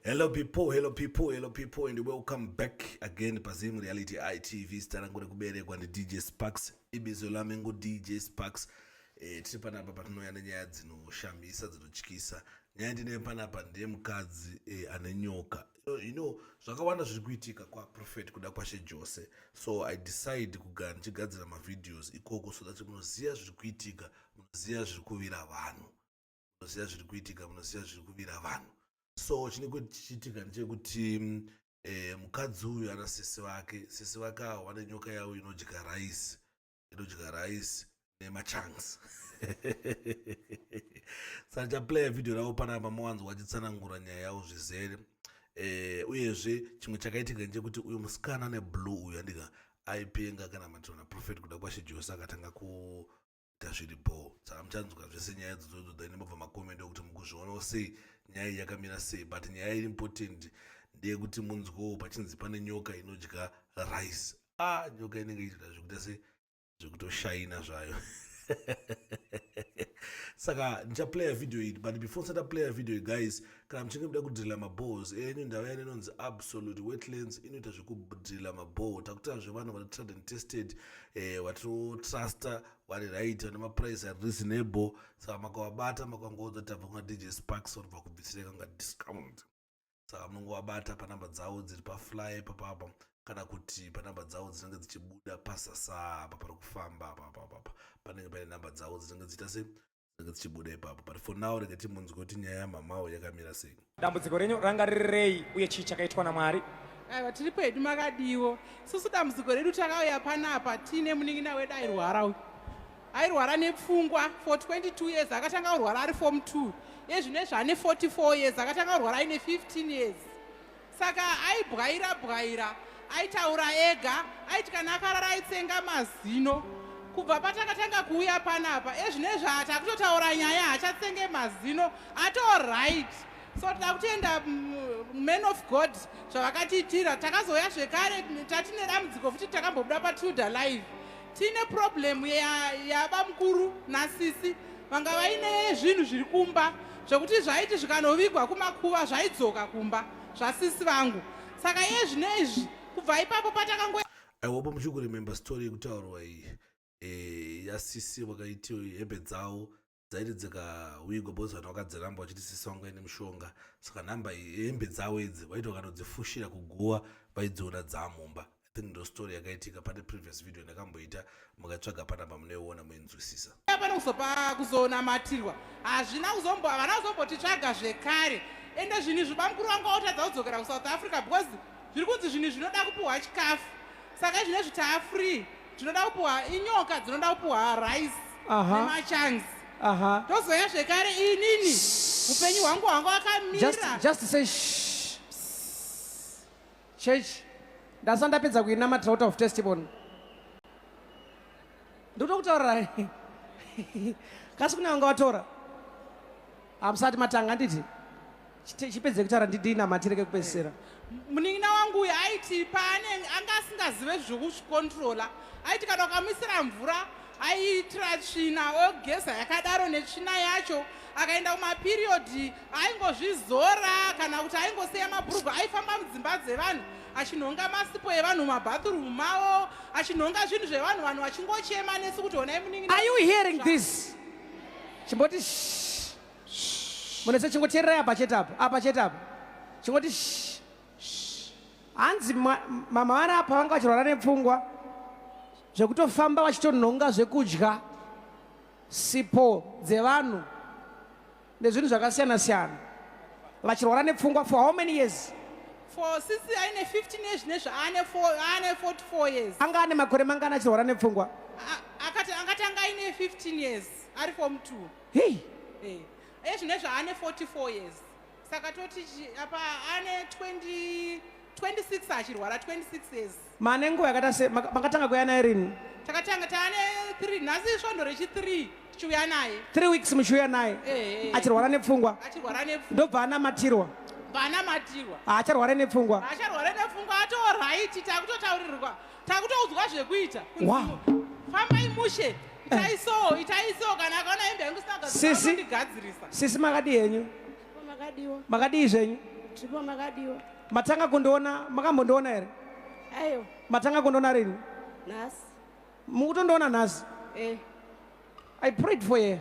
Hello people, hello people, hello people and welcome back again paZim Reality ITV starangu rekuberekwa ndiDJ Sparks ibizo lami nguDJ Sparks e, tiri panapa patinouya nenyaya dzinoshamisa dzinotyisa nyaya ndine panapa ndiye mukadzi e, ane nyoka you know zvakawanda zviri kuitika kwaprofet kuda kwashe jose so i decide kugara ndichigadzira mavideos ikoko so that munoziva zviri kuitika munoziva zviri kuvira vanhu munoziva zviri kuitika munoziva zviri kuvira vanhu so chine kuti chichiitika ndechekuti eh, mukadzi uyu ana sisi vake sisi vake awo vane nyoka yavo inodya rice inodya rice nemachunks saka chaplaya vhidhiyo ravo panapa mawanzo wachitsanangura nyaya yavo zvizere eh, uyezve chimwe chakaitika ndechekuti uyu musikana neblue uyu andika aipenga kana matirona prophet kuda kwashe jose akatanga ku tazviri bhoo saka muchanzwa zvese nyaya dzodzodzo then mobva makomenti okuti mukuzvionawo sei nyaya iyi yakamira sei but nyaya iri important ndeyekuti munzwewo pachinzi pane nyoka inodya rice a ah, nyoka inenge ichida zvekuita se zvekutoshaina zvayo saka ndichaplaya video iyi but before ndisati aplaya video iyi guys kana muchinge muda kudrilla mabores enyu ndava yani inonzi absolute wetlands inoita zvekudrilla mabore takutarazve vanhu vane trad and tested eh, vatotruster vari right vane maprice ari reasonable saka makavabata makangoudza tabva kuna dj sparks vanobva kubvisireka kunga discount saka munongovabata panamba dzavo dziri pafly papapa kana kuti panamba dzavo dzinenge dzichibuda pasasa apa pari kufamba apapapapa panenge paine namba dzavo dzinenge dziita se dzinenge dzichibuda ipapo but for now rega timunzwe kuti nyaya yamamawo yakamira sei dambudziko renyu ranga rirei uye chii chakaitwa namwari aiwa tiri pedu makadiwo susu dambudziko redu takauya panapa tiine munin'ina wedu airwara uyu airwara nepfungwa for 22 years akatanga kurwara ari form 2 ezvino ezvaane 44 years akatanga kurwara aine 15 years saka aibwaira bwaira aitaura ega aiti kana akarara aitsenga mazino kubva patakatanga kuuya panapa ezvine zvaati akutotaura nyaya haachatsenge mazino atorit so tida kutenda mm, man of god zvavakatiitira takazouya zvekare tatine dambudziko futi takambobuda patilda live Tine problem ya yaba mkuru na sisi vanga vaine zvinhu zviri kumba zvekuti zvaiti zvikanovigwa kumakuva zvaidzoka kumba zvasisi vangu saka iye zvino izvi kubva ipapo patakango i hope muchiri kuremember story yekutaurwa iyi e, yasisi vakaiti hembe dzavo dzaiti dzikawigwa because vanhu vakadziramba vachiti sisi vangu vaine mushonga saka nhamba hembe dzavo idzi vaiti vakatodzifushira kuguva vaidziona dzaamumba i think ndo story yakaitika pane previous video ndakamboita mukatsvaga panamba munoiona muinzwisisa pano kuzopa kuzonamatirwa hazvina kuzombo havana kuzombotitsvaga zvekare ende zvinhu izvi bamukuru vangu vaotadza kudzokera kusouth africa because zviri kunzi zvinhu zvinoda kupiwa chikafu saka izvi nezvi taafree tinoda kupuwa inyoka dzinoda kupuwa rice Aha. nemachunks Aha. tozoya zvekare inini upenyu hwangu hwanga Just, wakamira just say shh. Church, ndasanda ndapedza kuinamatira out of testimony. Ndoda kutaura kasi kuna wanga watora. Hamusati matanga handiti? chipedze kutara ndidinamatire kekupedzisira munin'ina wangu uyu aiti paanenge anga asingazive zvekuzvikontrola aiti kana ukamuisira mvura aiitira tsvina ogeza yakadaro netsvina yacho akaenda kumapiriyodhi aingozvizora kana kuti aingosiya mabhurugwa aifamba mudzimba dzevanhu achinhonga masipo evanhu mumabhathurumu mavo achinhonga zvinhu zvevanhu vanhu vachingochema nesu kuti honai munin'ina are you hearing this chimboti munese chingoteererai apa chete apa apa chete apa chingoti hanzi mama vari apa vanga vachirwara nepfungwa zvekutofamba vachitonhonga zvekudya sipo dzevanhu nezvinhu zvakasiyana siyana vachirwara nepfungwa for how many years for sisi aine 15 years nezve aane 44 years anga ane makore mangani achirwara nepfungwa akati angati anga aine 15 years ari form two hey eh hey. zvinezvi ane 44 years saka toti apa ane 20 26 achirwara 26 years mane nguva yakata se makatanga kuya naye rini takatanga taane 3 nhasi svondo rechi 3 tichiuya naye 3 weeks muchiuya naye eh, eh, eh. achirwara nepfungwa achirwara nepfungwa ndobva anamatirwa bva anamatirwa haacharware nepfungwa haacharware nepfungwa ato right takutotaurirwa takutoudzwa zvekuita fambai mushe itaisowo eh. itaisowo kana akaona hembe yangu sinagandigadzirisa sisi makadii henyu makadii zvenyu matanga kundiona makambondiona here ayo matanga kundiona rini nhasi mukutondiona nhasi eh. i prayed for ye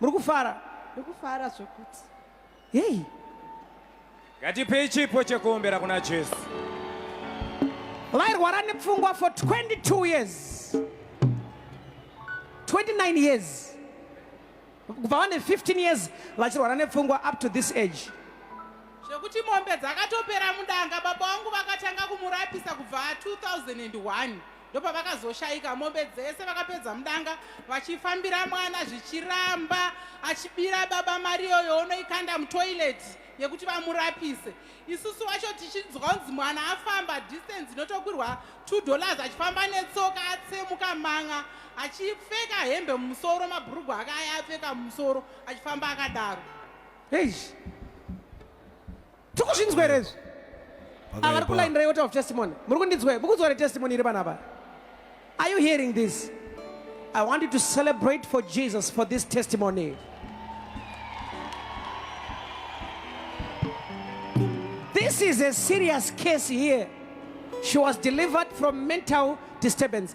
muri kufara ndikufara zvekuti heyi ngatipei chipo chekuombera kuna jesu vairwara nepfungwa for 22 years 29 years kubva vane 15 years vachirwara nepfungwa up to this age zvekuti mombe dzakatopera mudanga baba vangu vakatanga kumurapisa kubva 2001 ndopavakazoshaika mombe dzese vakapedza mudanga vachifambira mwana zvichiramba achibira baba mari iyoyo unoikanda mutoireti yekuti vamurapise isusu wacho tichinzwa kunzi mwana afamba distance inotokwirwa two dollars achifamba netsoka atsemuka manga achipfeka hembe mumusoro mabhurugwa ake aya apfeka mumusoro achifamba akadaro eish tikuzvinzwere izvi avari kulainira yota of testimony muri kundinzwe mukunzwere testimony iri panapa are you hearing this i want you to celebrate for jesus for this testimony this is a serious case here she was delivered from mental disturbance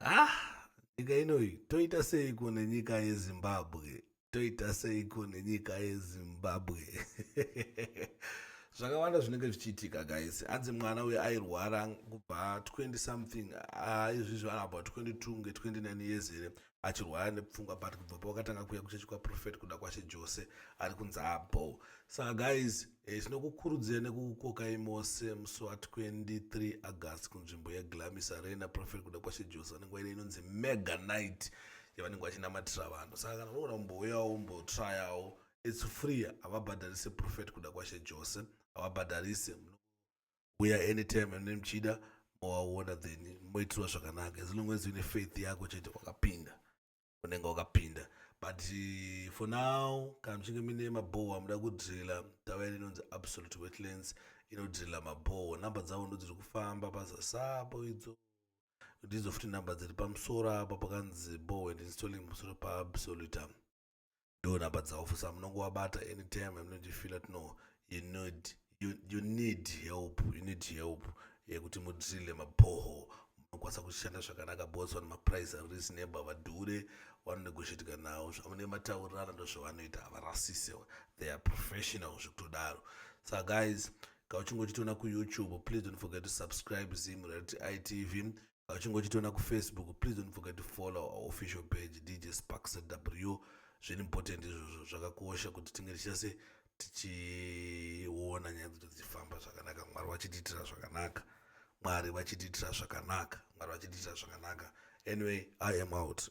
ah, nyika inoyi toita seiko nenyika yezimbabwe toita seiko nenyika yezimbabwe zvakawanda zvinenge zvichiitika guys hanzi mwana uyo airwara kubva 20 something ah, izvizvi ah, anabva 22 nge 29 years here achirwara nepfungwa but kubva pawakatanga kuya kuchechi kwaprofet kuda kwashe jose ari kunzi abo saka guys eh, tinokukurudzira nekukukokai mose musi wa 23 august kunzvimbo yeglamis arena profet kuda kwashe jose vanenge waine inonzi mega night yavanenge vachinamatira vanhu saka kana unogona kumbouyawo umbotrayawo its free havabhadharise profet kuda kwashe jose havabhadharise uya anytime ane muchida mowaona then moitirwa zvakanaka as long as une faith yako chete wakapinda unenge wakapinda but eh, for now kana muchinge mine mabhoho amuda kudrilla tava ine inonzi absolute wetlands inodrilla mabhoho number dzavo ndo dziri kufamba pazasapo idzo ndidzo futi number dziri pamusoro apo pakanzi boho and installing pamusoro paabsoluta ndo number dzavo for sa munongowabata anytime yamunotifila tino you need you, you need help you need help yekuti eh, mudrille mabhoho munokwanisa kushanda zvakanaka bos vane maprice ari reasonable vadhure vanonegoshetika nawo zvamune mataurirana ndo zvavanoita havarasise they are professional zvekutodaro sa guys kauchingochitiona kuyoutube please don't forget to subscribe zim rati itv uchingochitiona kufacebook please don't forget to follow our official page dj sparks w zviri important izvozvo zvakakosha kuti tinge tichase tichiona nyaya dzedu dzichifamba zvakanaka mwari vachitiitira zvakanaka mwari vachitiitira zvakanaka mwari vachitiitira zvakanaka anyway i am out